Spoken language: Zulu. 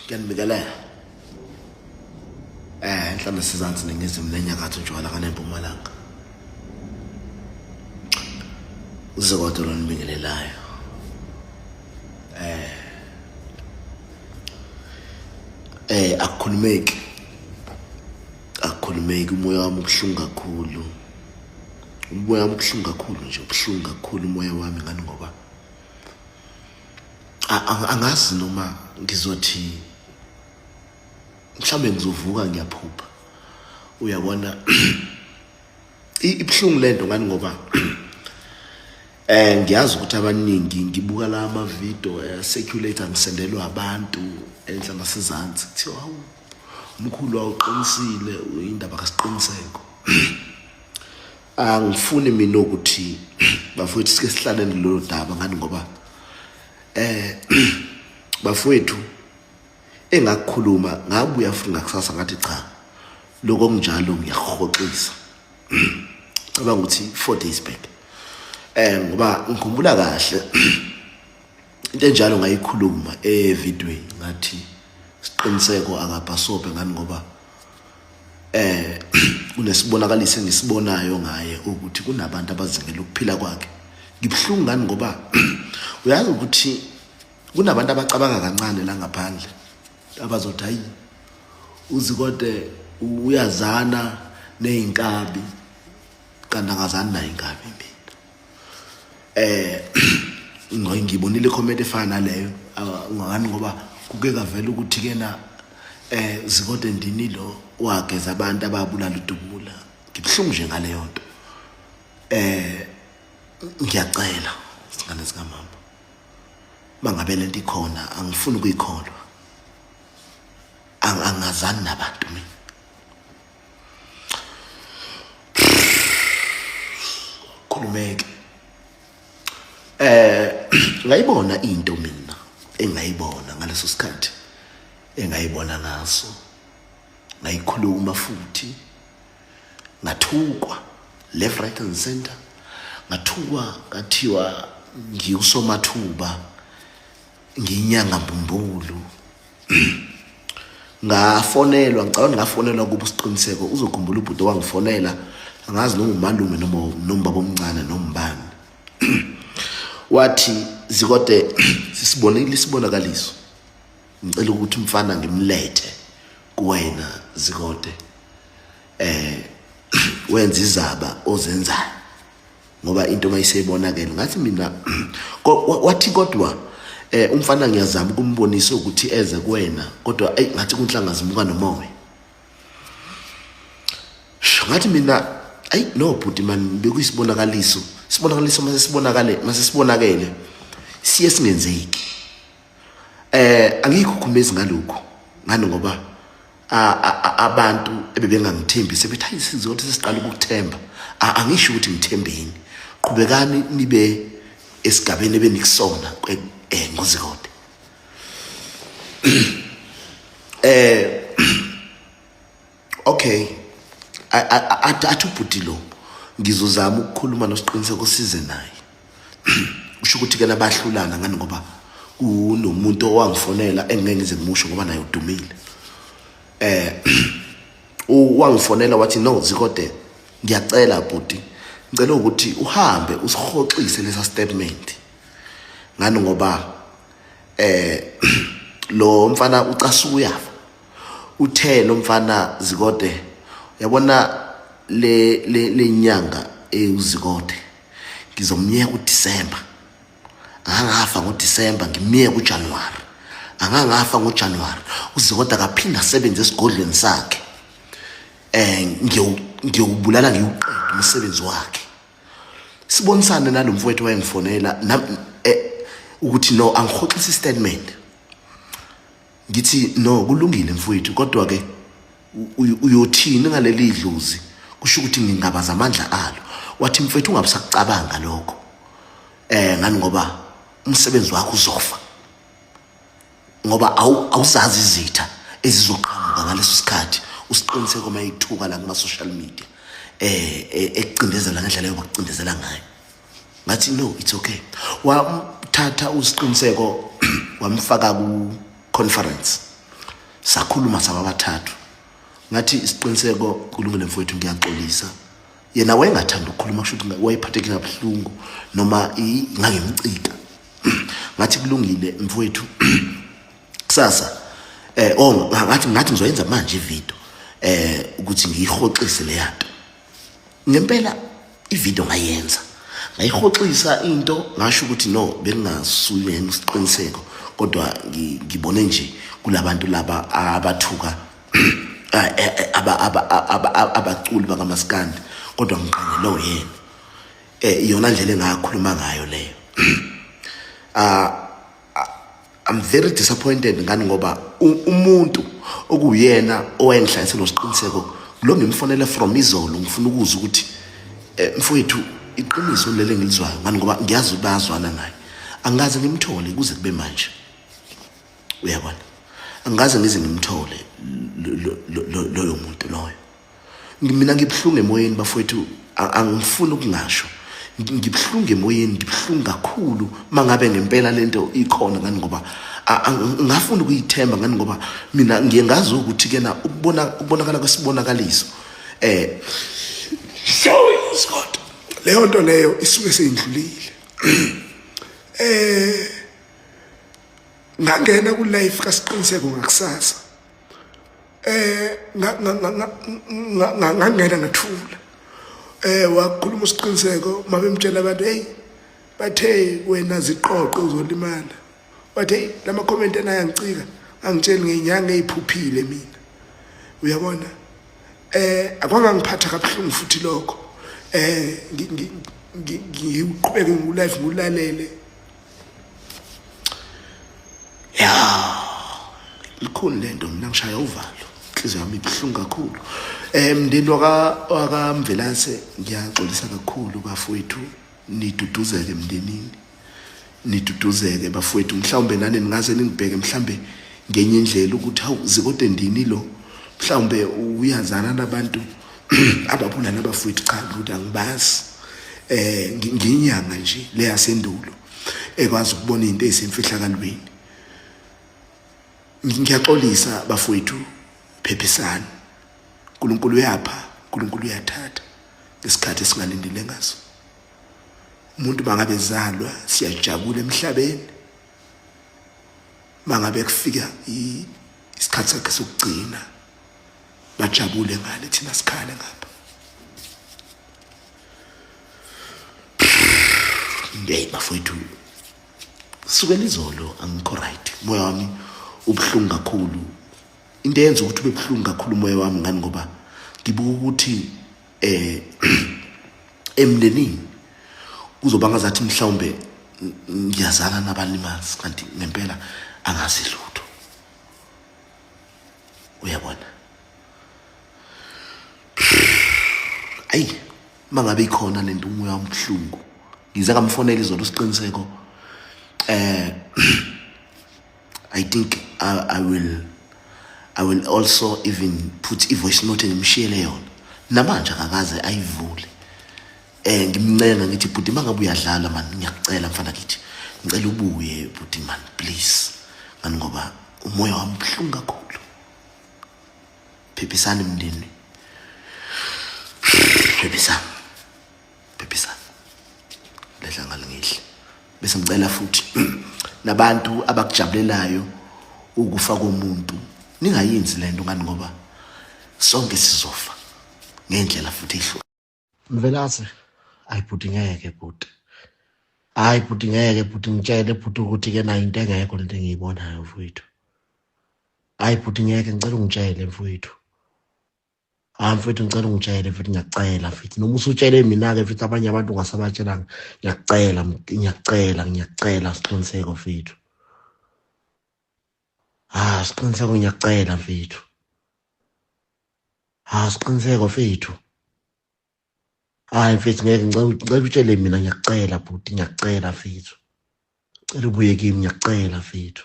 kuyanibikelela eh enhla nesizansi ningizimu nenyakatho njwala kanempumalanga uze kodwa lonibingelelayo eh eh akukhulumeki akukhulumeki umoya wami ubuhlungu kakhulu umoya wami ubuhlungu kakhulu nje ubuhlungu kakhulu umoya wami ngani ngoba angazi noma ngizothi mhlawumbe ngizovuka ngiyaphupha uyabona ibuhlungu lento ngani ngoba eh ngiyazi ukuthi abaningi ngibuka la ama video eh, circulate angisendelwa abantu enhla nasezantsi kuthiwa hawu umkhulu awuqinisile indaba kasiqiniseko angifuni mina ukuthi bafowethu sike sihlalele lolu daba ngani ngoba eh bafowethu engakukhuluma ngabuya futhi ngakusasa ngathi cha lokho kunjalo ngiyahoxisa cabanga ukuthi 4 days back eh ngoba ngikhumbula kahle into enjalo ngayikhuluma evidweni ngathi siqiniseko akabhasobhe ngani ngoba eh kunesibonakaliso engisibonayo ngaye ukuthi kunabantu abazingela ukuphila kwakhe ngibuhlungu ngani ngoba uyazi ukuthi kunabantu abacabanga kancane la ngaphandle abazothi hayi uzikode uyazana nezinkabi kanti angazani nayo inkabi eh ngiyibonile comment efana naleyo ngani ngoba kuke kavela ukuthi kena eh zikode ndini lo wageza abantu ababulala udubula ngibhlungu nje ngaleyo nto eh ngiyacela singane sikamama mangabe lento ikhona angifuni ukuyikholwa angazani nabantu mina khulumeke eh ngayibona into mina engayibona ngaleso sikhathi engayibona ngaso ngayikhuluma futhi ngathukwa left right and center ngathukwa ngathiwa ngiwusomathuba ngiyinyanga mbumbulu ngafonelwa ngicabanga ngafonelwa kuba usiqiniseko uzokhumbula ubhuti wangifonela angazi noma umalume noma noma baba omncane noma ubani wathi zikode sisibonile isibonakaliso ngicela ukuthi umfana ngimlethe kuwena zikode eh wenza izaba ozenzayo ngoba into mayisebonakele ngathi mina wathi kodwa eh umfana ngiyazama ukumbonisa ukuthi eze kuwena kodwa ay ngathi kunhlanga zimuka nomoya ngathi mina ay no bhuti man bekuyisibonakaliso sibonakaliso mase sibonakale mase sibonakele siye singenzeki Eh angikhukhumezi ngalokho ngani ngoba abantu ebebengangithembi sebethi hayi sizothi sesiqala ukukuthemba angisho ukuthi ngithembeni qhubekani nibe esigabeni ebenikusona eh ngozikode eh okay athi ubhuti lo ngizozama ukukhuluma nosiqiniseko size naye usho ukuthi ke labahlulana ngani ngoba kunomuntu owangifonela engeke ngize ngimusho ngoba naye udumile eh wangifonela wathi no zikode ngiyacela bhuti ngicela ukuthi uhambe usihoxise lesa statement ngani ngoba eh lo mfana ucasuka uyafa uthe lo mfana zikode uyabona le le lenyanga eyuzikode ngizomyeka uDisemba angangafa ngoDisemba ngimyeka uJanuary angangafa ngoJanuary uzikode akaphinde asebenze esigodlweni sakhe eh ngiyobulala ngiyuqeda umsebenzi wakhe sibonisane nalomfowethu wayengifonela eh, ukuthi no angihoxisa istatement ngithi no kulungile mfowethu kodwa ke uyothini ngaleli dlozi kusho ukuthi ngingabaza amandla alo wathi mfethu ungabusakucabanga lokho eh ngani ngoba umsebenzi wakho uzofa ngoba awuzazi izitha ezizoqhamuka ngaleso sikhathi usiqiniseko uma ithuka la kuma social media eh, eh ekucindezela ngendlela yokucindezela ngayo ngathi no it's okay wamthatha usiqiniseko wamfaka ku conference sakhuluma sababathathu ngathi isiqiniseko kulungile mfowethu ngiyaxolisa yena wayengathanda ukukhuluma kusho ukuthi wayephatheke kabuhlungu noma ngangimcika ngathi kulungile mfowethu kusasa eh oh ngathi ngathi ngizoyenza manje ivideo eh ukuthi ngiyihoxise leyanto ngempela ivideo ngayenza ngayihoxisa into ngasho ukuthi no bengingasuyena isiqiniseko kodwa ngibone nje kulabantu laba abathuka eh, eh, eh, abaculi bakamaskandi kodwa ngiqangele oyena um iyona ndlela engakhuluma ngayo leyo um I'm very disappointed ngani ngoba umuntu okuyena owenhla esenosiqiniseko lo ngimfonele from izolo ngifuna ukuzwa ukuthi eh, mfowethu iqiniso lele ngilizwayo ngani ngoba ngiyazi ukuthi bayazwana naye angikaze ngimthole kuze kube manje uyabona angikaze ngize ngimthole loyo muntu loyo mina ngibuhlungu emoyeni bafowethu angifuni ukungasho ngibuhlungu emoyeni ngibuhlungu kakhulu mangabe ngempela lento ikhona ngani ngoba ngafuna ukuyithemba ngani ngoba mina ngiye ngazi ukuthi kena ukubona ukubonakala kwesibonakaliso eh sorry Scott leyo nto leyo isuke seyindlulile eh ngangena ku life kasiqiniseko ngakusasa eh ngangena ngathula eh wakhuluma usiqiniseko mabemtshela abantu hey bathe wena ziqoqe uzolimala bathe lama comment enayo angicika angitsheli ngenyanga eyiphuphile mina uyabona eh akwangangiphatha kabuhlungu futhi lokho eh ngiqhubeke ngu live ngulalele ya likhulu lento mina ngishaya uvalo inhliziyo yami ibuhlungu kakhulu um mndeni wakamvelase ngiyaxolisa kakhulu bafowethu niduduzeke emndenini niduduzeke bafowethu mhlawumbe nani ningaze ningibheke mhlawumbe ngenye indlela ukuthi hawu zikode ndini lo mhlawumbe uyazana nabantu ababulala abafowethu cha ngithi angibazi eh nginyanga nje le yasendulo ekwazi ukubona into ezisemfihlakalweni ngiyaxolisa bafowethu phephisani uNkulunkulu uyapha uNkulunkulu uyathatha ngesikhathi esingalindele ngaso umuntu bangabe zalwa siyajabula emhlabeni mangabe kufika isikhathi sakhe sokugcina bajabule ngale thina sikhale ngapha hey bafowethu sukela izolo angikho right moya wami ubuhlungu kakhulu into eyenza ukuthi ube buhlungu kakhulu umoya wami ngani ngoba ngibuka ukuthi eh emndenini kuzoba ngazathi mhlawumbe ngiyazana nabalimazi kanti ngempela angazi lutho uyabona ayi mangabe ikhona lento umoya omhlungu ngize ngamfonela izolo siqiniseko eh i think I, i will i will also even put i voice note ngimshiyele yona namanje akakaze ayivule Eh ngimncenga ngithi bhuti mangabe uyadlala man ngiyakucela mfana kithi. Ngicela ubuye bhuti man please. Ngani ngoba umoya wami ubuhlungu kakhulu. Phephisani mndeni. Phephisani. Phephisani. Lehla ngalingihle. Bese ngicela futhi nabantu abakujabulelayo ukufa komuntu ningayenzi lento ngani ngoba sonke sizofa ngendlela futhi ihlo Mvelase ayi bhuti ngeke bhuti hayi bhuti ngeke bhuti ngitshele bhuti ukuthi ke nayo into engekho lento engiyibonayo mfowethu hayi bhuti ngeke ngicela ungitshele mfowethu hayi mfowethu ngicela ungitshele futhi ngiyacela futhi noma usutshele mina-ke futhi abanye abantu ungasabatshelanga ngiyacela ngiyacela ngiyacela siqiniseko fethu ha siqiniseko ngiyacela fethu ha siqiniseko fethu hayi mfethu ngeke ngicela utshele mina ngiyakucela bhuti ngiyakucela fethu cela ubuye kimi ngiyakucela fethu